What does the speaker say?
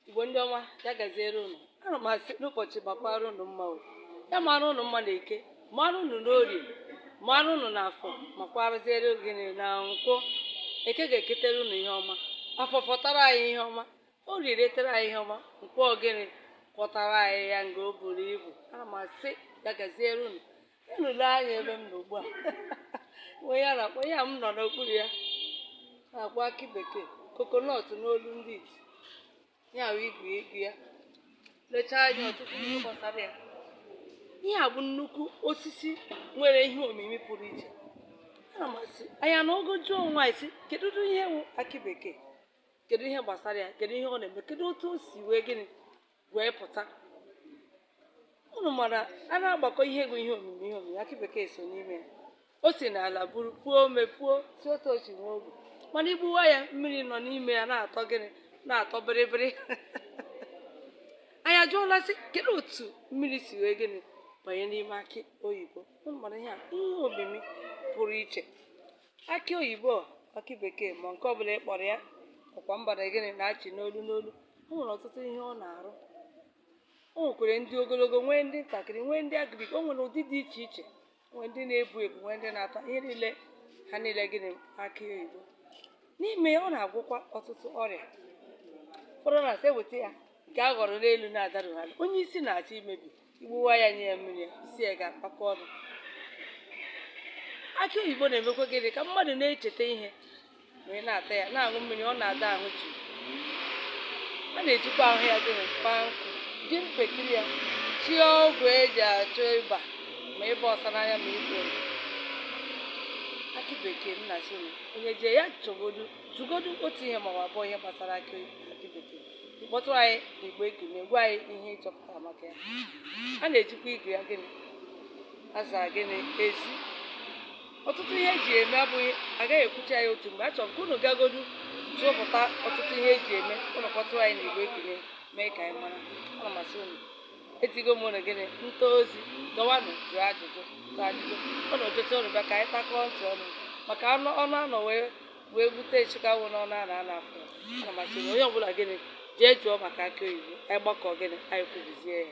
igbo ndị ọma ya gaziere unu ana m asị ụbọchị makwara unu mma o ya mara unu mma na eke mara unu n'orie mara unu na afọ makwarazie unu gịnị na nkwọ eke ga-eketere unu ihe ọma afọ fọtara anyị ihe ọma orie ritere anyị ihe ọma nkwọ gịnị kwọtara anyị ya nga o buru ibu ana m asị ya gaziere unu unu lee anya ebe m nọ ugbu a ihe a nke a m nọ n'okpuru ya a na-akpọ akị bekee coconut n'olu ndị iti ya bụ igu igu ya lechaa anya ọtụtụ ihe gbasara ya ihe a bụ nnukwu osisi nwere ihe omimi pụrụ iche ana m asị anyị na unu ga-ajụ onwe anyị sị kedu ụdị ihe wụ akị bekee kedu ihe gbasara ya kedu ihe ọ na-eme kedu otu o si wee gịnị wee pụta unu mara a na-agbakọ ihe bụ ihe omimi ihe omimi akị bekee so n'ime ya o si n'ala buru puo ome puo si otu o si nwee ogwu mana i gbuwaa ya mmiri nọ n'ime ya na-atọ gịnị na-atọ bịrịbịrị anyị ajụọla sị kedu otu mmiri si wee gịnị banye n'ime akị oyibo unu mara ihe a ihe omimi pụrụ iche akị oyibo akị bekee ma nke ọbụla ị kpọrọ ya ọkwa mba na gịnị na-achị n'olu n'olu o nwere ọtụtụ ihe ọ na-arụ o nwekwere ndị ogologo nwee ndị ntakịrị nwee ndị agrik o nwere ụdị dị iche iche nwee ndị na-ebu ebu nwee ndị na-ata ihe niile ha niile gịnị akị oyibo n'ime ya ọ na-agwọkwa ọtụtụ ọrịa ụfọdụ na-asị e weta ya nke a ghọrọ n'elu na-adarughị ala onye isi na-achọ imebi i gbuwaa ya nye ya mmiri isi ya ga-akpakọ ọnụ akị oyibo na-emekwa gịnị ka mmadụ na-echeta ihe wee na-ata ya na-aṅụ mmiri ọ na-ada ahụ ji a na-ejikwa ahụ ya gịnị kpaa nkụ ji mpekiri ya sie ọgwụ eji achụ ịba ma ịba ọcha n'anya ma ịba oyi akị bekee ana m asị onye jee ya chọpụtagodu otu ihe ma ọ bụ abụọ ihe gbasara akị bekee kpọtụrụ anyị n'igbo ekene gwa anyị ihe ị chọpụtara maka ya a na-ejikwa igu ya gịnị aza gịnị ezi ọtụtụ ihe eji eme abụghị a gaghị ekwucha ya otu mgbe a chọrọ ka unu gagodu chọpụta ọtụtụ ihe eji eme unu kpọtụrụ anyị n'igbo ekene mee ka anyị mara ana m asị unu ezigo m unu gịnị nta ozi dọwanụ jụọ ajụjụ jụọ ajụjụ unu jụcha unu bịa ka anyị takọọ ntị ọnụ maka anụ ọnụ anọ wee wee gbute nchịka wụ n'ọnụ a na a na-afụ ana m asị onye ọbụla gịnị jee jụọ maka akị oyibo anyị gbakọọ gịnị anyị kwubizie ya